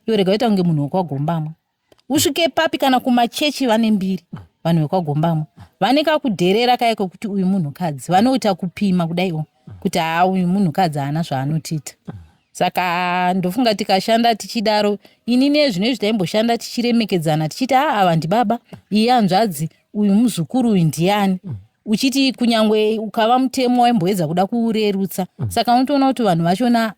iwe rega uita kunge munhu wekwagombamwa usvike papi kana kumachechi vane mbiri vanhu vekwagombamwa vane kakudherera kaye kekuti uyu munhukadzi vanoita kupima kudaiwo kuti haa uyu munhukadzi haana zvaanotiita saka ndofunga tikashanda tichidaro ini nezvino izvi taimboshanda tichiremekedzana tichiti haa ava ndibaba iye anzvadzi uyu muzukuru uyu ndiyani mm uchiti kunyange ukava mutemo waimboedza kuda kuurerutsa mm. saka unotoona kuti vanhu vachona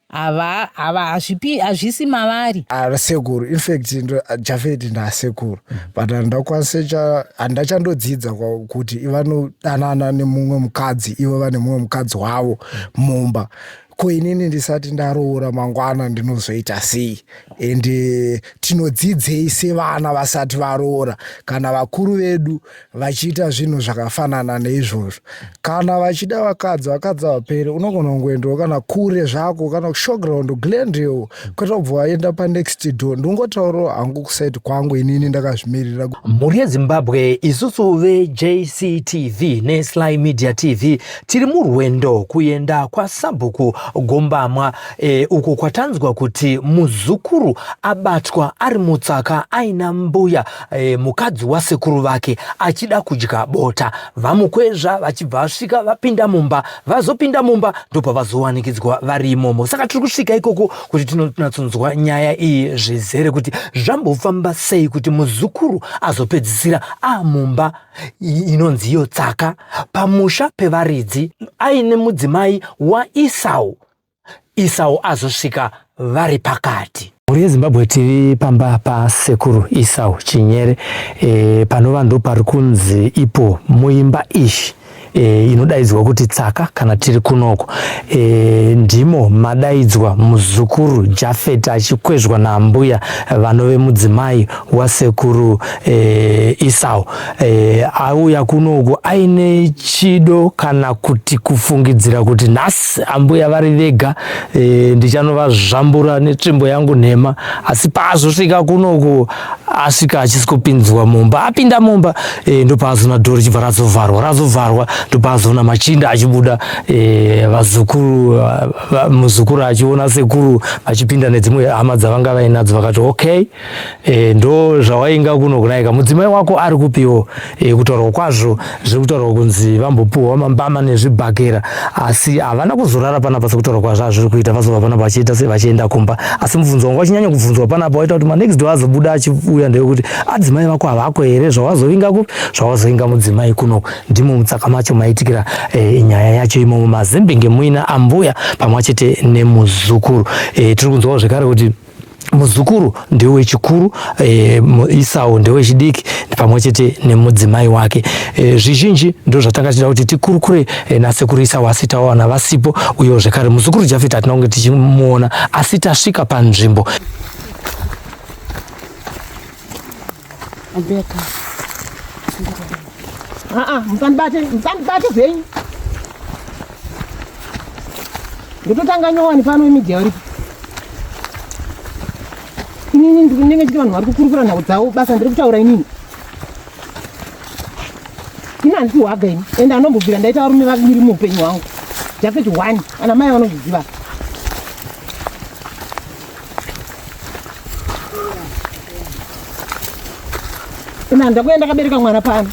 ava ava hazvipi hazvisi mavari asekuru ah, infact ah, jafeti ndaasekuru mm. but handakwanisa handa chandodzidza kuti ivanodanana nemumwe mukadzi ivo vane mumwe mukadzi wavo mumba ko inini ndisati ndaroora mangwana ndinozoita sei and eh, tinodzidzei sevana vasati varoora kana vakuru vedu vachiita zvinhu zvakafanana neizvozvo kana vachida vakadzi vakadzi vapere unogona kungoendawo kana kure zvako kana kushowground glendale kwete kubva waenda panext door ndingotaurawo hangu kusaiti kwangu inini ndakazvimirira mhuri yezimbabwe isusu vejctv nesly media tv tiri murwendo kuenda kwasabhuku gombamwa e, uko kwatanzwa kuti muzukuru abatwa ari mutsaka aina mbuya e, mukadzi wasekuru vake achida kudya bota vamukwezva vachibva vasvika vapinda mumba vazopinda mumba ndobva vazowanikidzwa vari imomo saka tiri kusvika ikoko kuti tinonatsonzwa nyaya iyi zvizere kuti zvambofamba sei kuti muzukuru azopedzisira amumba inonzi iyo tsaka pamusha pevaridzi aine mudzimai waisau Isau azosvika vari pakati. Mhuri yeZimbabwe TV pamba pasekuru Isau Chinyere e, panova ndo pari kunzi ipo muimba ishi e, inodaidzwa kuti tsaka kana tiri kunoko e, ndimo madaidzwa muzukuru Jafet achikwezvwa naambuya vanove mudzimai wasekuru e, Isau e, auya kunoku aine chido kana kuti kufungidzira kuti nhasi ambuya vari vega e, eh, ndichanovazvambura netsvimbo yangu nhema asi paazosvika kunoku asvika achisi kupinzwa mumba apinda mumba e, ndopaazoona dhoro richibva razovharwa razovharwa ndopaazoona machinda achibuda e, vazukuru va, muzukuru achiona sekuru vachipinda nedzimwe hama dzavanga vainadzo vakati okay E, ndo zvawainga kuno kunaika mudzimai wako ari kupiwo e, eh, kutaurwa kwazvo zviri kutaurwa kunzi vambopiwa mambama nezvibhakera asi havana kuzorara panapa sekutaurwa kwazvo azviri kuita vazova panapa vachiita se vachienda kumba asi mubvunzo wangu wachinyanya kubvunzwa panapa waita kuti manext door azobuda achiuya ndeyekuti adzimai ah, vako havako here zvawazovinga kupi zvawazovinga mudzimai kuno ndimo mutsaka macho maitikira e, nyaya yacho imomo mazembenge muina ambuya pamwe chete nemuzukuru e, tiri kunzwawo zvekare kuti muzukuru ndewe chikuru e, isau ndewe chidiki pamwe chete nemudzimai wake e, zvizhinji ndo zvatanga tichida kuti tikurukure e, nasekuru isau asi tawana vasipo uyewo zvekare muzukuru jafeti hatina kunge tichimuona asi tasvika panzvimbo Andeka. Ah ah, musandibate, musandibate zvenyu. Ndototanga nyowani pano imidhi yauri. Inini ndiri kunenge chiti vanhu vari kukurukura nhau dzavo basa ndiri kutaura inini. Ini handisi hwaga ini ende anombobvira ndaita varume vaviri muupenyu hwangu. Jafet one, ana mai vanozviziva. Ina ndakuenda kabereka mwana pano.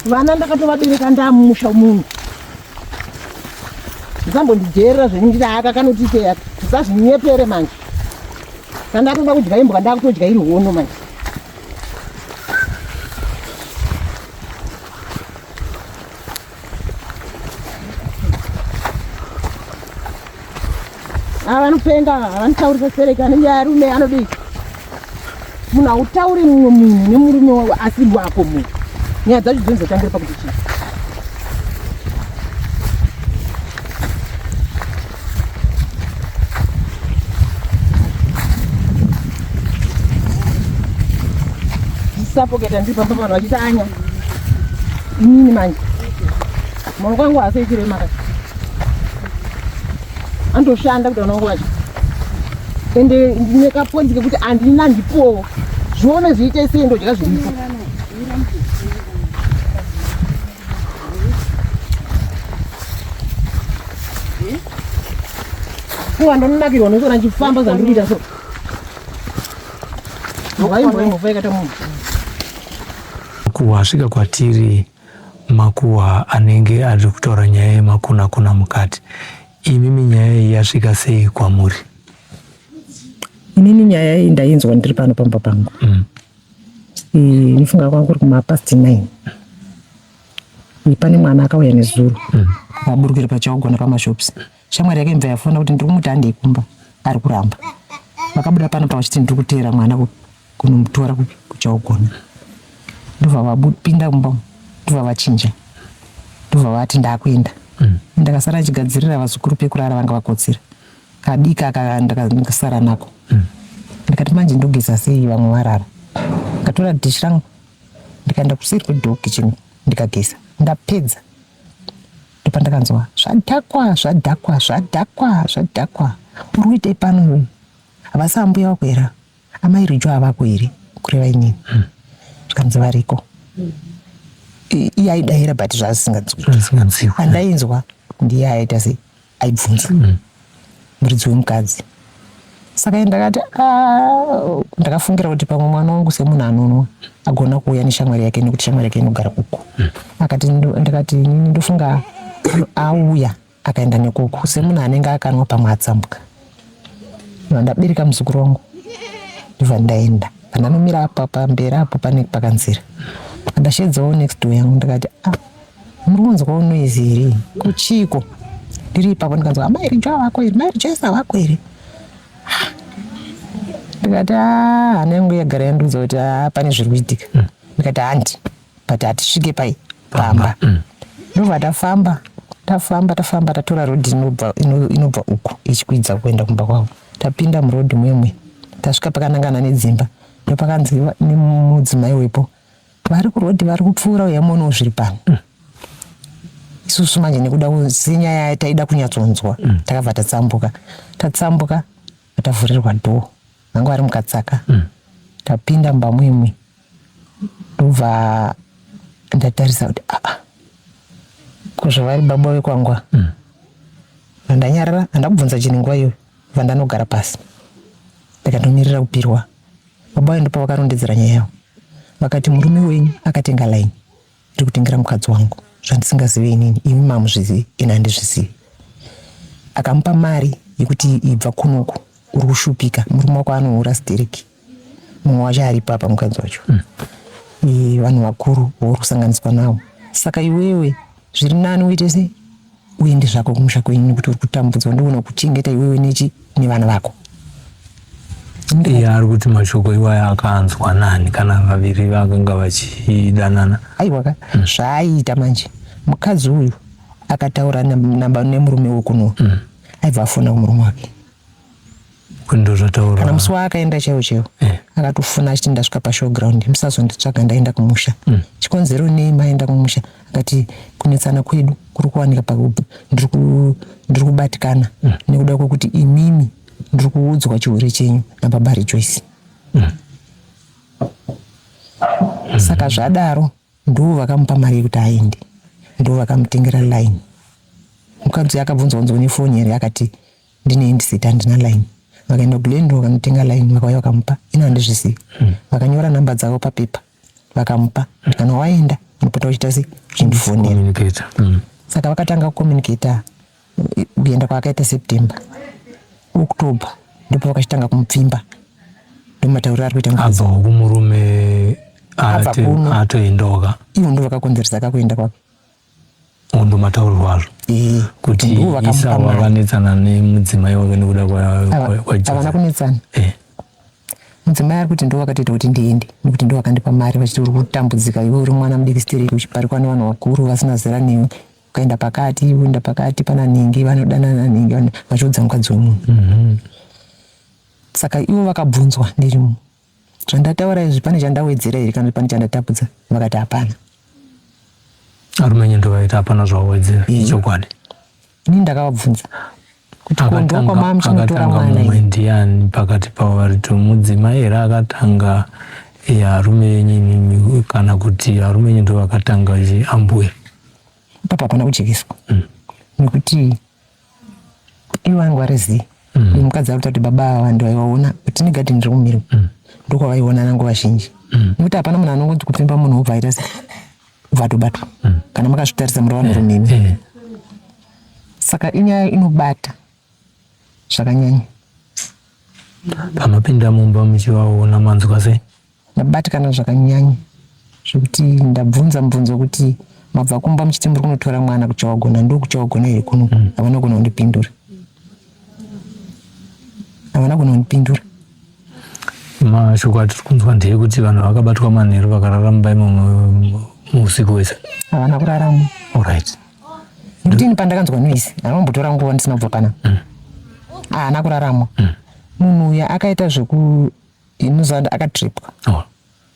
Vana ndakatovabereka ndamusha munhu. Ndisambondijerera zvenindira aka kanoti teya. Ndisazvinyepere manje. Ndandatoda kudya imbwa ndakutodya iri hono manje. ava vanopenga ava vanotaurisa sereka anenge arume anodii munhu hautauri mumwe munhu nemurume wavo asi wako munhu nyaya dzacho dzinozotangira pakuti chii sapoketa ndiri pamba vanhu vachiita anya inini manje maoko angu haasi echirema ka andoshanda kuti vanangu vacho ende ndine kaponzi kekuti andina ndipowo zvione zviite sei ndodya zviripo kuwa ndononakirwa nekuona ndichifamba zandiri kuita so vaimboimbofaikata munhu makuhwa asvika kwatiri makuhwa anenge ari kutaura nyaya yemakunakuna mukati imimi nyaya iyi yasvika sei kwamuri inini nyaya iyi ndainzwa ndiri pano pamba pangu mm. Ndofunga kwanga kuri kumapast nine pane mwana akauya nezuro mm. aburukira pachakugona pamashops shamwari yake imva yafona kuti ndiri kumuti handei kumba ari kuramba vakabuda pano pa vachiti ndiri kuteera mwana kunomutora kuchakugona ndobva vapinda kumba ndobva vachinja ndobva vati ndakuenda mm. ndakasara ndichigadzirira vazukuru pekurara vanga vakotsira kadiki aka ndakasara nako mm. ndikati manje ndogeza sei vamwe varara ndikatora dish rangu ndikaenda kuseri kwedoor kitchen ndikageza ndapedza ndopandakanzwa zvadhakwa zvadhakwa zvadhakwa zvadhakwa uri kuitei pano iwe havasi ambuya wako here amai rijo havako here kureva inini hmm. zvikanzi variko iye aidayira but zvaasinganzwiandainzwa ndiye aita sei aibvunza hmm. muridzi wemukadzi saka ini ndakati ah, ndakafungira kuti pamwe mwana wangu semunhu anonwa agona kuuya neshamwari yake nekuti shamwari yake inogara kuku hmm. akati ndakati ndofunga auya akaenda nekuku semunhu anenge akanwa pamwe atsambuka vandabereka muzukuru wangu ndibva ndaenda pandanomira apa pamberi apo pane pakanzira ndashedzawo next door yangu ndikati ah muri kunzwawo noise here kuchiiko ndiri ipapo ndikanzwa amai ah, rijo wako iri mai rijo isa wako iri ndikati ah, hana yangu yagara yandiudza kuti ah, pane zviri kuitika ndikati handi but hatisvike pai pamba mm. ndobva tafamba tafamba tafamba tatora rodhi inobva uku ichikwidza kuenda kumba kwavo tapinda murodhi mwemwe tasvika pakanangana nedzimba ndopakanzi nemudzimai wepo vari kurodhi vari kupfuura uya muonawo zviri pano mm. isusu manje nekuda senyaya taida kunyatsonzwa mm. takabva tatsambuka tatsambuka atavhurirwa dhoo anga ari mukatsaka mm. tapinda mumba muimwe ndobva ndatarisa kuti aa ah, ah, kuzvavari baba vekwangwa mm. vandanyarara handa kubvunza chinhu nguva iyoyo vandanogara pasi ndikatomirira kupirwa baba vayo ndopa vakarondedzera nyaya yavo vakati murume wenyu akatenga laini Ndiri kutengera mukadzi wangu zvandisingazive inini, imi mamuzvizivi ini handizvizivi. Akamupa mari yekuti ibva kunoku uri kushupika murume wako anohura stereki mumwe wacho ari papa mukadzi wacho mm. e, vanhu vakuru vauri kusanganiswa nawo saka iwewe zviri nani uite sei uende zvako kumusha kwenyu nekuti uri kutambudzwa ndoona kuchengeta iwewe nechi nevana vako iye ari kuti mashoko iwayo akanzwa nani kana vaviri vakanga vachidanana aiwaka mm. zvaaiita manje mukadzi uyu akataura nemurume wekuno mm. aibva afona kumurume wake kana musi waakaenda chaiwo chaiwo eh. akatofuna achiti ndasvika pashowground musazonditsvaga ndaenda kumusha mm. chikonzero nei maenda kumusha akati kunetsana kwedu kuri kuwanika pakuti ndiri kubatikana mm. nekuda kwekuti imimi ndiri kuudzwa chihure chenyu nababa rejoyce mm. saka zvadaro ndivo vakamupa mari yekuti aende ndivo vakamutengera line mukadzi akabvunzwa unzwa nefoni here akati ndine handset handina line vakaenda kulandro vakanotenga line vakauya vakamupa ino handizvizivi hmm. vakanyora number dzavo papepa vakamupa kana waenda unopota uchita sei uchindifonera hmm. saka vakatanga kucommunicata kuenda kwaakaita september october ndipo vakachitanga kumupfimba ndomatauriro ari kuita abva kumurume atoendoka ivo ndo vakakonzeresa kakuenda kwake Uhu ndo mataurirwo azvo eh. kuti isa wakanetsana nemudzimai wake nekuda kwaavana kunetsana eh. mudzimai ari kuti ndo wakatoita kuti ndiende nekuti ndo wakandipa mari vachiti uri kutambudzika iwe uri mwana mudiki stereki uchiparikwa nevanhu vakuru vasina zera newe ukaenda pakati uenda pakati pana nhingi vanodanana nhingi vachiudza mukadzi wemunhu mhm. saka ivo vakabvunzwa ndirimo Zvandataura izvi pane chandawedzera here kana pane chandatapudza? Vakati hapana. Arumenye ndovaita hapana zvawedzera ichokwadi. Ini ndakavabvunza kuti kondwa kwamama chinotora mwana mumwe ndiani pakati pavo vari to mudzimai here akatanga arume yenyu kana kuti arume yenyu ndovakatanga ambuya. Papa hapana kujekeswa mm. nekuti Iye wangu ari zii mm. mukadzi akuta kuti baba ava vandu vaivaona kuti negadheni riri kumirwa mm. ndokwavaionana nguva zhinji mm. nekuti hapana munhu anongonzi kupfimba munhu wobva aita se vatobatwa mm. kana makazvitarisa muri vanhu rumimi mm. mm. saka inyaya inobata zvakanyanya panopinda mumba muchivaona manzwa sei Ndabatikana zvakanyanya zvekuti ndabvunza mubvunzo kuti mabva kumba muchiti muri kunotora mwana kuchawagona ndo kuchawagona here kuno mm. havana gona kundipindura havana gona kundipindura mashoko atiri kunzwa ndeyekuti vanhu vakabatwa manheru vakarara mumba imomo muusiku wese havana kuraramo orit nekuti ini pandakanzwa noise anombotora nguva ndisina kubva pana mm. haana kuraramo mm. munhu uya akaita zveku Ini Zad akatripwa. Oh.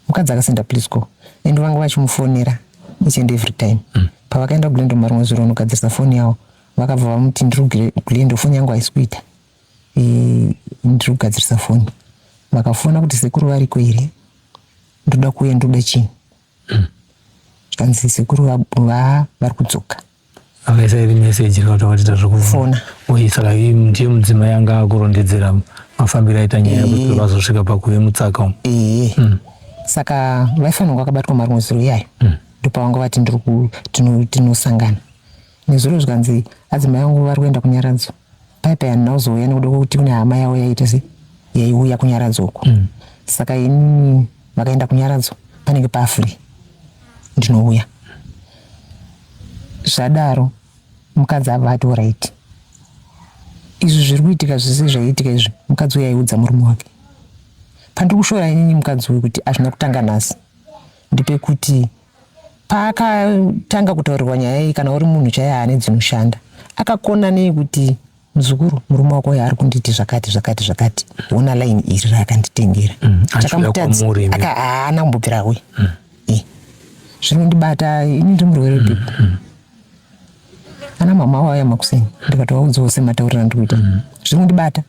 Mukadzi akasenda please go. Ende vanga vachimufonera each and every time. Mm. Pavakaenda kuGlendo marimwe zuro vanogadzirisa foni yavo. Vakabva vamuti ndiri kuGlendo foni yangu haisi kuita. E, ndiri kugadzirisa foni. Vakafona kuti sekuru variko here? Ndoda kuuya ndoda chii? Mm. Zvikanzi sekuru va, va vari kudzoka. akaisa iri meseji rikauta vatiita zvekufona uye saka ndiye mudzimai anga akurondedzera mafambiro aita nyaya kuti eh. vazosvika pakuve mutsaka umu eh. hmm. saka vaifanirwa vakabatwa marimwe zuro iyayo hmm. ndopavanga vati ndiri tinosangana nezuro zvikanzi adzimai vangu vari kuenda kunyaradzo pipeline ndauzouya nekuda kwekuti kune hama yavo yaita se yaiuya kunyaradzo uko mm. saka inini vakaenda kunyaradzo panenge pafree ndinouya zvadaro mukadzi ava ati orit izvi zviri kuitika zvese zvaiitika izvi mukadzi uyo aiudza murume wake pandiri kushora inini mukadzi uyu kuti hazvina kutanga nhasi ndipekuti Paakatanga kutaurirwa nyaya iyi kana uri munhu chaiye ane dzinoshanda akakona nei kuti muzukuru murume wako uyo ari kunditi zvakati zvakati zvakati hona line iri raakanditengera mm, takamutadza haana kumbobvira uye mm. eh, zvinondibata ini ndi murwere mm, bipo mm. ana mama waya makuseni ndikatovaudzawo semataurira ndikuita mm. zvinondibata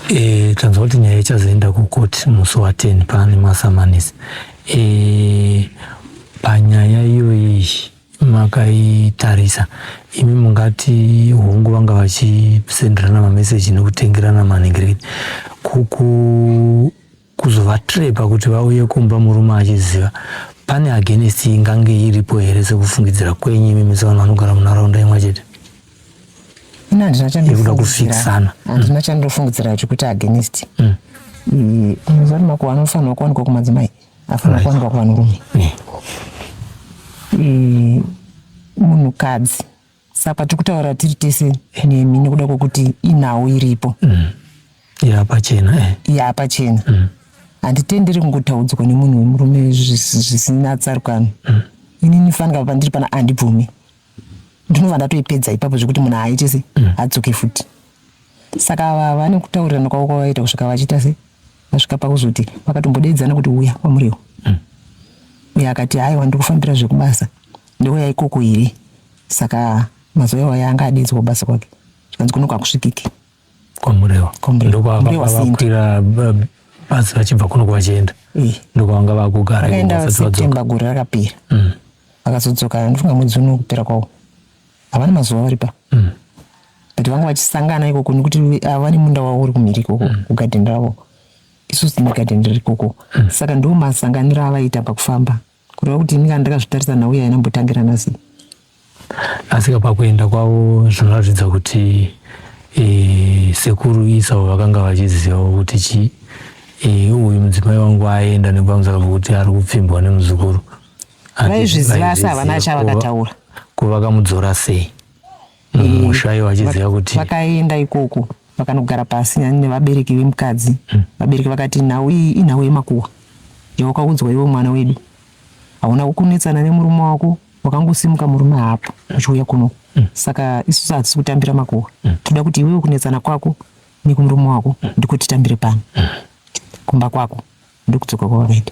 E, tanzwa kuti nyaya ichazoenda kukoti musi wa 10 pane masamanisi e, panyaya iyoyi makaitarisa imi mungati hongu vanga vachisenderana mameseji nekutengerana manhingirekiti kuku kuzovatrepa kuti vauye kumba murume achiziva pane against ingange iripo here sekufungidzira kwenyu imi mese vanhu vanogara munharaunda imwe chete ikuda kufikisana handina mm. chandofungidzira chekuti against mm. muzati makuva anofanirwa kuwanikwa kumadzimai afanira kuwanikwa kuvanhurume munhukadzi saka tikutaura tiri tese nemi nekuda kwekuti inhau iripo mm. yapachena eh. yapachena mm. handitenderi kungotaudzwa nemunhu wemurume zvisina tsarukano mm. ini nifanika pandiri pana andibvume ndinova ndatoipedza ipapo zvekuti munhu haaite se mm. adzoke futi saka ava vane kutaurirana kwavo kwavaita kusvika vachiita se vasvika pakuzoti vakatombodaidzana kuti uya kwamuriwo mm. uya akati haiwa ndikufambira zvekubasa ndouya ikoko here saka mazuva iwayo anga adaidzwa kubasa kwake zvikanzi kunoku hakusvikiki kwamuriwo ndokwavakwira basi vachibva kunoku vachienda eh. ndokwavanga vakugara september gore rakapera mm. vakazodzoka ndofunga mwedzi uno kupera kwawo havana mazuva vari pa mm. but vanga vachisangana ikoko nekuti ah, vane munda wavo uri kumhiri ikoko mm. kugadhen ravo isu sine gadhen riri ikoko mm. saka ndo masanganiro avaita pakufamba kureva kuti ini kana ndakazvitarisa nhau yaina mbotangira nasi asika pakuenda kwavo zvinoratidza kuti e, sekuru isavo vakanga vachizivawo kuti chii e, uyu mudzimai wangu aenda nekuvamudzaka kuti ari kupfimbwa nemuzukuru vaizviziva asi havana chavakataura kuvakamudzora sei mumusha mm. iwo achiziva kuti vakaenda ikoko vakanogara pasi nyani nevabereki vemukadzi mm. vabereki vakati nhau iyi inhau yemakuwa yawakaudzwa iwe mwana wedu hauna kukunetsana nemurume wako wakangosimuka murume haapo uchiuya kuno mm. saka isusu hatisi kutambira makuwa toda kuti iwewe kunetsana kwako nekumurume wako ndiko titambire pano kumba kwako Ndokudzoka kwavakaita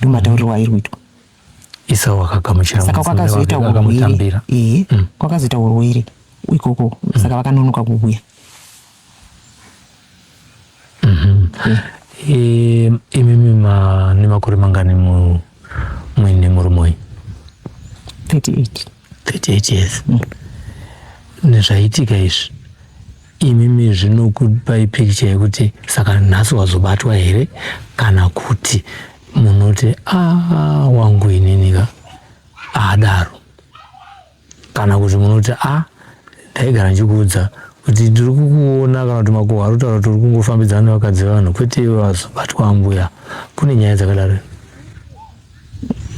ndomatauriro airi kuitwa. Isau akagamuchira saka kwakazoita hurwere ee eh, mm. kwakazoita hurwere ikoko mm. saka vakanonoka kuuya mm-hmm. eh, imimi nemakore mangani muine murume uyu 38 38 years nezvaitika izvi imimi zvinokupai picture yekuti saka nhasi wazobatwa here kana kuti munoti aa wangu ininika adaro kana kuti munoti a ndaigara ndichikuudza kuti tiri kukuona kana kuti makuhwa ari kutaura kuti uri kungofambidzana nevakadzi vevanhu kwete iwe vazobatwa ambuya kune nyaya dzakadaro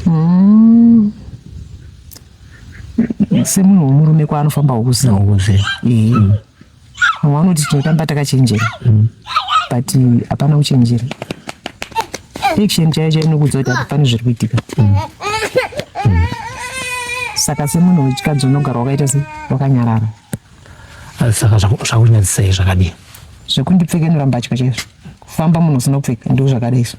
Mm. Semunhu wemurume kwaanofamba wokusina wokuze. Mm. Wanoti tinotamba takachenjera. Mm. But hapana kuchenjera. Action chaiyo chaiyo inokuudza kuti hapana zviri kuitika. Mm. Mm. Saka semunhu wechikadzi unogara wakaita sei? Wakanyarara. Ah, saka zvakunyadzisei zvakadii? Zvekundipfekenura mbatya chaizvo. Kufamba munhu usina kupfeka ndizvo zvakadai izvo.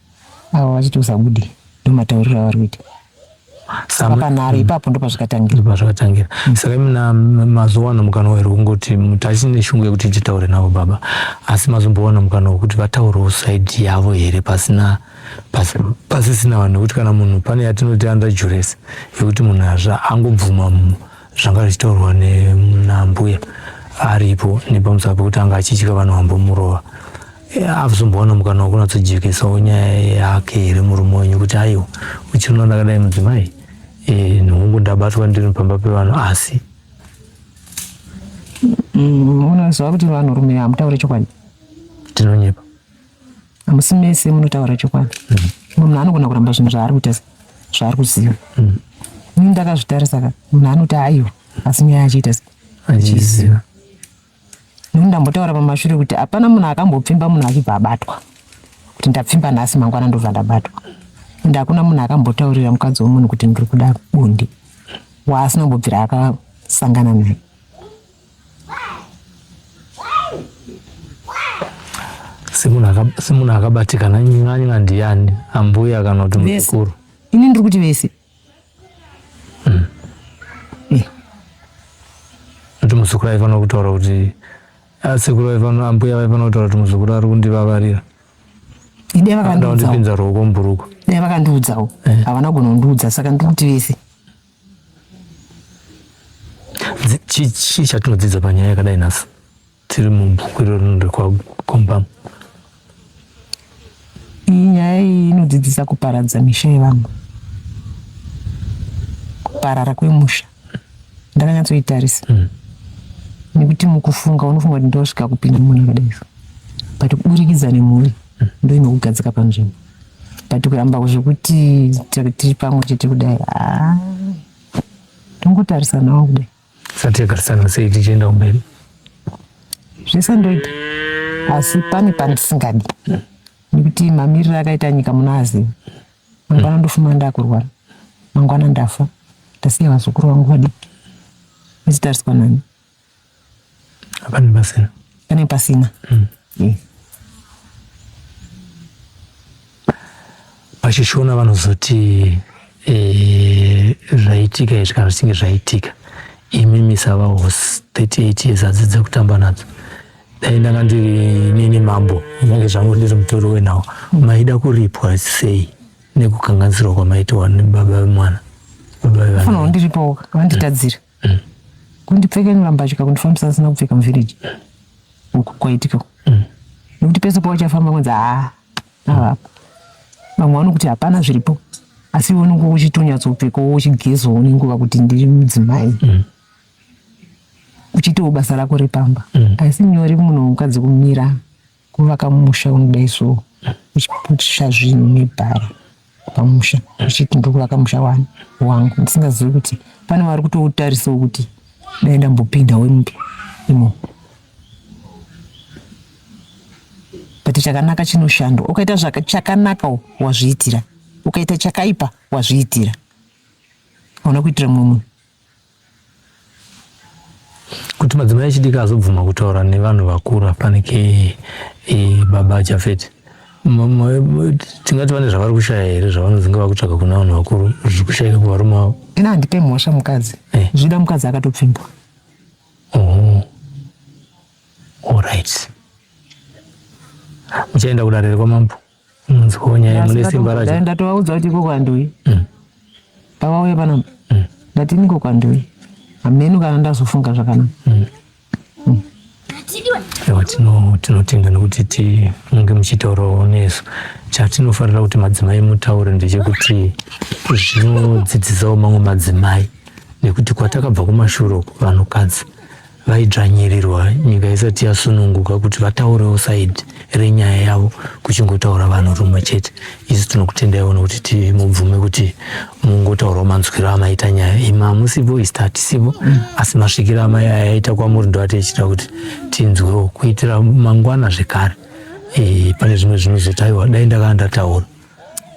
avo vachiti usabude ndomatauriro avari kuita saka panhare mm. ipapo ndopazvikatangira pazvikatangira mm. saka imina mazuva ano mukana wairi kungoti tachine shungu yekuti titaure navo baba asi mazombowana mukana wekuti vataurawo saidi yavo here pasina pasisina vanhu nekuti kana munhu pane yatinoti under juresi yekuti munhu azva angobvuma zvanga zvichitaurwa nambuya aripo nepamusava pekuti anga achitya vanhu vambomurova avzombowana mukana wokunatsojekesawo nyaya yake here murume wenyu kuti aiwa uchirino ndakadai mudzimai eh, nhungu ndabatwa ndiri pamba pevanhu asi mm, unoziva kuti vanhu rume hamutaure chokwadi tinonyepa hamusi mese munotaura chokwadi mm. munhu anogona kuramba zvinhu zvaari kuita zvaari kuziva mm. ini ndakazvitarisa ka munhu anoti aiwa asi nyaya achiita achiziva Nuni ndambotaura pamashure kuti hapana munhu akambopfimba munhu achibva abatwa kuti ndapfimba nhasi mangwana ndobva ndabatwa ende hakuna munhu akambotaurira mukadzi wemunhu kuti ndiri kuda bundi waasina kumbobvira akasangana naye semunhu akabatikana nyanya ndiyani ambuya kana kuti mukuru ini ndiri kuti vese hmm. kuti muzukuru aifanira kutaura kuti ah, sekuru vaifanira ambuya vaifanira kutaura kuti muzukuru ari kundivavarira idai vakandipinza ruoko mubhuruku dai vakandiudzawo eh. havana kugona kundiudza saka ndiri kuti vese chii chatinodzidza panyaya yakadai nhasi dziri mubhuku irori rinoda kuvakomba nyaya iyi inodzidzisa kuparadza misha yevamwe kuparara kwemusha ndakanyatsoitarisa mm. nekuti mukufunga unofunga kuti ndosvika kupinda munhu akadai but kuburikidza nemhuri mm. ndo inokugadzika panzvimbo but kuramba zvekuti tiri pamwe chete kudai ah, tongotarisanawo kudai Satiyagarisana sei tichienda kumberi? Zvese ndoita asi pane pandisingadi nekuti mamiriro akaita nyika muna aziva mangwana ndofuma ndakurwara mangwana ndafa ndasiya vazukuru vangu vadiki vachitariswa nani Pane pasina. Pane pasina. Mm. Mm. Pachishona vanozoti eh, zvaitika izvi kana zvichinge zvaitika imi misava hosi 38 years adzidze kutamba nadzo dai ndanga ndiri nini mambo nyange zvangu ndiri mutori wenawo maida kuripwa sei nekukanganisirwa kwamaitiwa nebaba vemwana baba vevana ndiripo vanditadzira mm. kundipfekenura mbatya kundifambisa asina kupfeka muvhireji uku kwaitika mm. nekuti pese pawachafamba kwanzi haa avapa vamwe vanokuti hapana zviripo asi iwe unenge uchitonyatsoupfeka wo uchigezawo nenguva kuti ndiri mudzimai mm. uchitawo basa rako repamba mm. asi nyori munhu mukadzi kumira Kuvaka musha unodai so uchiputisha zvinhu nebhara pamusha uchiti ndokuvaka musha wani wangu ndisingazivi kuti pane vari kutoutarisawo kuti dai ndambopinda wemupi imo but chakanaka chinoshandwa ukaita chakanaka wazviitira ukaita chakaipa wazviitira hauna kuitira mumwe munhu kuti madzimai echidiki azobvuma kutaura nevanhu vakuru apanike e, baba jafet tingati vane zvavari kushaya here zvavanodzinga vakutsvaga kuna vanhu vakuru zviri kushayika kuvarume avo ina handipe mhosva mukadzi eh. zvida mukadzi akatopfimbwa oh. allright muchaenda kudarere kwamambo Munzwawo nyaya mune simba racho. Dai ndatovaudza kuti iko kwanduyi. Mm. Pavauya pano mm. ndati niko kwanduyi. Hameno kana ndazofunga zvakanaka. Mm. Mm. Ewa tino tinotenda nokuti ti munge muchitaurawo nesu. Chatinofarira kuti madzimai mutaure ndechekuti zvinodzidzisawo mamwe madzimai nekuti kwatakabva kumashure uko vanhukadzi vaidzvanyirirwa nyika isati yasununguka kuti vataurewo saidi renyaya yavo kuchingotaura vanhu rumwe chete isu tinokutendaiwo nokuti tiri mubvume kuti mungotaurawo manzwiro amaita nyaya imi hamusipo isi hatisipo mm. asi masvikiro amai aya aita kwamuri ndo atichita kuti tinzwewo kuitira mangwana zvekare e, pane zvimwe zvinozotaiwa dai ndakanga ndataura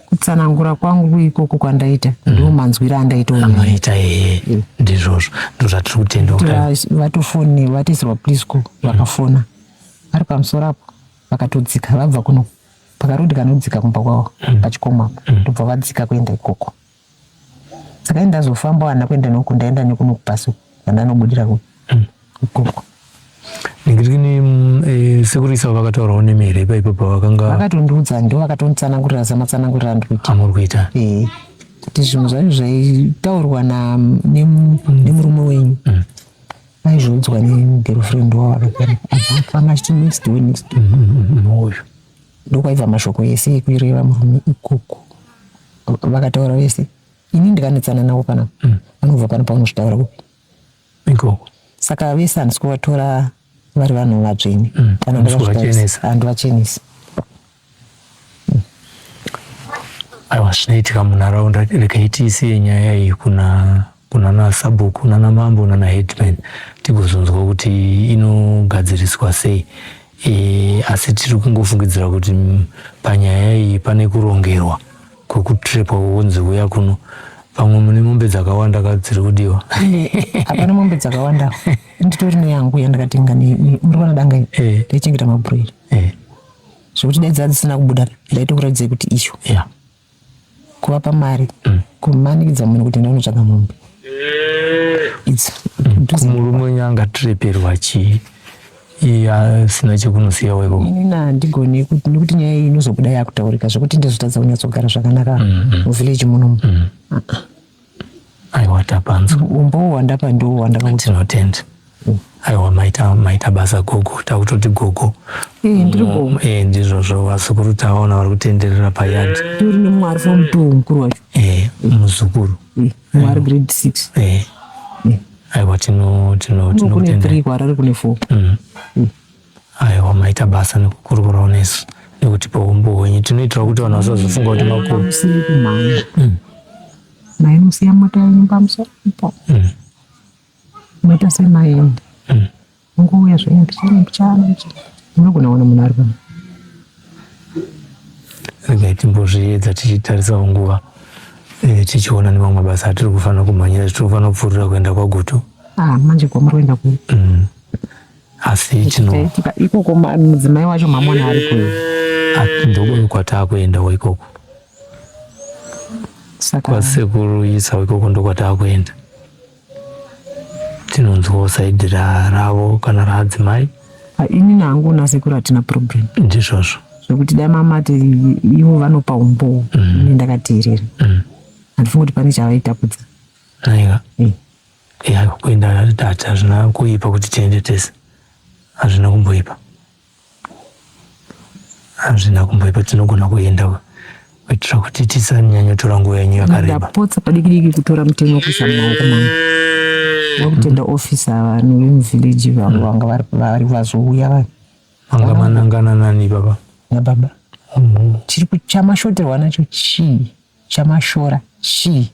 kutsanangura kwangu ikoko kwandaita mm. ndiwo manzwira andaita unoita ee mm. ndizvozvo ndozvatiri kutenda vatofone vatizirwa plisco mm. vakafona vari pamusoro apo vakatodzika vabva kuno pakarudi kanodzika kumba kwavo pachikomo apo ndobva vadzika kuenda ikoko saka ndazofamba wana kuenda noku ndaenda nekuno kupaso kwandanobudira ku hmm. ikoko ndikirikini mm, eh, sekuru isavo vakataurawo nemi here ipa ipapo vakanga vakatondiudza ndo vakatonditsanangurira zamatsanangurira andikuita amuri kuita ee kuti zvinhu zvacho zvaitaurwa nemurume wenyu hmm. aizviudzwa negirlfriend wavo akagara aafana achiti next way next way hmm, uyu ndokwaiva mashoko ese ekureva murume ikoko vakataura vese ini ndikanetsana navo pana mm. vanobva pano paunozvitaura kupi ikoko saka vese handisi kuvatora vari vanhu vatsvene mm. kana handivachenesi aiwa zvinoitika munharaunda regai tiisiye nyaya iyi kuna kunana sabhuku nana mambo nana headman tigozonzwa kuti inogadziriswa sei e, asi tiri kungofungidzira kuti panyaya iyi pane kurongerwa kwekutrepwa wonzi uya kuno pamwe mune mombe dzakawanda ka dziri kudiwa hapana mombe dzakawanda nditori neyangu yandakatenga murivana danga eh. ndaichengeta mabhuroiri eh. zvekuti dai dzaa dzisina kubuda ndaitokuratidzai kuti icho yeah. kuvapa mari mm. kumanikidza munhu kuti ndanotsvaga mombe kumurume wenyu angatireperwa chii iye asina chekunosiya weko inini handigoni kuti nekuti nyaya iyi inozobuda yakutaurika zvekuti ndizotadza kunyatsogara zvakanaka mm, mm. muvhileji munomu mm. ah, ah. Aiwa tapanzwa. Umbowo wandapa ndiwo wandapa kuti tinotenda. Aiwa maita maita basa gogo takutoti gogo. Eh ndiri gogo. Eh ndizvozvo vazukuru taona vari kutenderera payard. Tiri nemwari from mtuwo mukuru wacho. Eh muzukuru. Eh, mwari grade 6. Eh. eh. Aiwa tino tino tinotenda. Kune 3 kwarari kune 4. Mm. mm. Aiwa maita basa nekukurukurawo nesu nekutipa humbo hwenyu tinoitira kuti vanhu vasazofunga kuti makuru. Musiri kumhanya. Mm. Mai musiya mota yenyu pamusoro ipo. Mm. Maita semaende. Mm. Mungouya zvenyu mbichana mbichana mbichana. Munogona kuona munhu ari pano. Regai timbozviedza tichitarisawo nguva eh, tichiona nemamwe mabasa atiri kufanira kumhanyira tiri kufanira kupfuurira kuenda kwagutu. Ah, manje kwamuri kuenda kupi? Mm. asi chinoitika ikoko mudzimai wacho mamona ari kuyo ndokuyo kwataakuendawo ikoko kwasekuru isa ikoko ndokwataakuenda tinonzwawo saidi ravo kana raadzimai ah, ini nangu nasekuru hatina problem ndizvozvo zvekuti dai mamati ivo vanopa umbowo mm. ini ndakateerera mm. handifungoti pane chavaitapudza aiwa eh. Eya kuenda hati hazvina kuipa kuti tiende tese. Hazvina kumboipa. Hazvina kumboipa tinogona kuenda kuitira kuti tisanyanya tora nguva yenyu yakareba. Ndapotsa padikidiki kutora mutemo wekuisa mumaoko mangu. Wakutenda officer vanhu vemuvillage vangu vanga vari vari vazouya vanhu. Vanga manangana nani baba? Nababa. Chiri chamashoterwa nacho chii? Chamashora chii?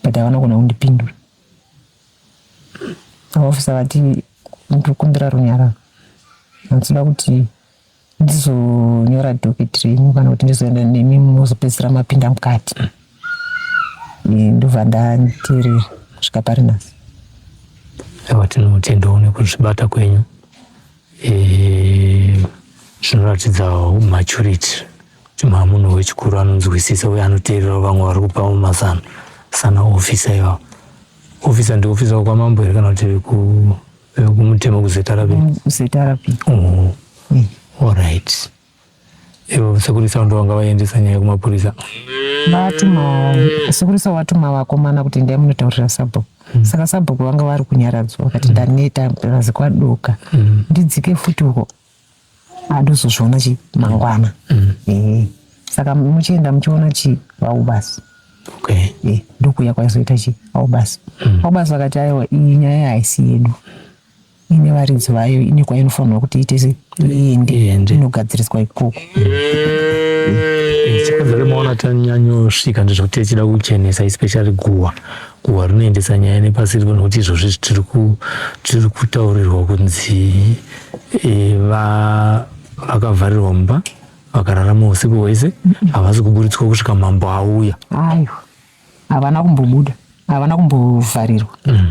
but havana kugona kundipindura vaofisa vati ndiri kumbira runyararo ndinoda kuti ndizonyora doketi renyu kana kuti ndizoenda nemi mozopedzisira mapinda mukati ndobva ndateerera kusvika pari nhasi aiwa tinotendawo nekuzvibata kwenyu zvinoratidza maturity Chimhaa munhu wechikuru anonzwisisa uye anoteererawo vamwe vari kupawo mazano sana ofisa ivavo ofisa ndiofisa wekwamambo here kana kuti vekumutemo kuzetarapi mm, kuzetarapi oh. mm. allright ivo sekurisa ndo vanga vaendesa nyaya kumapurisa vatuma sekurisa vatuma vakomana kuti ndai munotaurira sabhuku mm. saka sabhuku vanga vari kunyaradzwa vakati ndaneta razikwaduka ndidzike futi uko adozozviona chi mangwana mm. eh, saka muchienda muchiona chi vau basi okay. eh, ndokuya kwaizoita chi vau basi mm. vau basi vakati aiwa iyi nyaya haisi yedu ine varidzi vayo ine kwainofanirwa kuti itese iende inogadziriswa ikoko mm. eh, chikonzero maona tanyanyosvika ndizvokuti tichida kuchenesa especially guwa guhwa rinoendesa nyaya nepasi riko nokuti izvozvi zvitiri kutaurirwa kunzi eh, vakavharirwa mumba vakararama usiku hwese havasi kuburitswa kusvika mambo auya aiwa havana kumbobuda havana kumbovharirwa mm.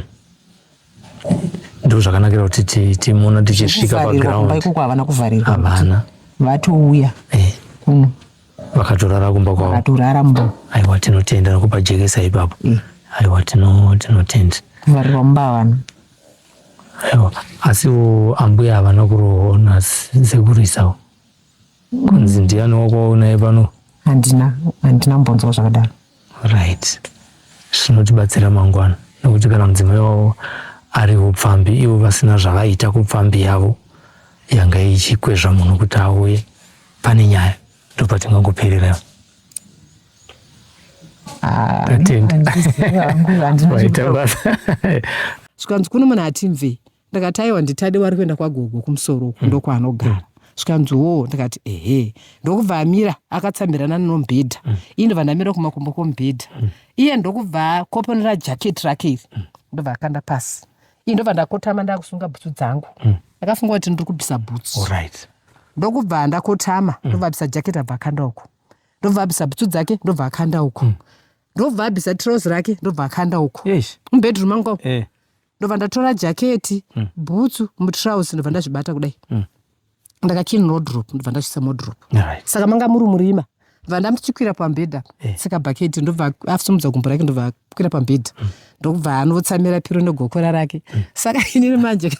Ndoo zvakanakira kuti timuona tichisvika paground. Ikoko havana kuvharirwa. Havana. Vatouya. Eh. Kuno. Vakatorara kumba kwavo. Vakatorara mumba. Aiwa tinotenda nokupa jekesa ipapo. Eh. Aiwa tinotenda. Kuvharirwa mumba havana. Aiwa asiwo ambuya havana kurohona sekurisawo. Kunzi ndiani wakwawo naye pano? Handina, handina kumbonzwa zvakadaro. Right. Zvinotibatsira mangwana nekuti kana mudzimai wavo ari upfambi ivo vasina zvavaita kupfambi yavo yanga ichikwezva munhu kuti auye pane nyaya ndopatingangoperera ah, zvikanzi kuno munhu hatimvei ndakati aiwa nditade wari kuenda kwagogo kumusoro uku mm. ndokwaanogara mm. zvikanzi woo ndikati ehe ndokubva amira akatsamhirana nenombhedha mm. ii ndobva ndamira kumakumbo kombhedha mm. iye ndokubva akoponera jacket rake iri mm. ndobva akanda pasi ii ndobva ndakotama ndakusunga bhutsu dzangu mm. ndakafunga kuti ndiri kubvisa bhutsu oh, right. ndokubva ndakotama mm. ndobva abvisa jacket abva akanda uko ndobva abvisa bhutsu dzake ndobva akanda uko mm. ndobva abvisa trouse rake ndobva akanda uko yes. umbedroom angu eh. ndobva ndatora jaketi mm. bhutsu mutrouse ndobva ndazvibata kudai mm. ndakachini rodrop ndobva ndazvisa modrop right. saka manga muri murima ndobva ndamtichikwira pambhedha eh. saka bhaketi ndobva afusumudza gumbo rake ndobva kwira pambhedha mm. ndokubva anotsamira piro negokora rake mm. saka inini manje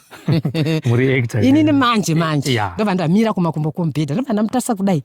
inini manje manje yeah. ndobva ndamira kumakumbo kombhedha ndobva ndamutasa kudai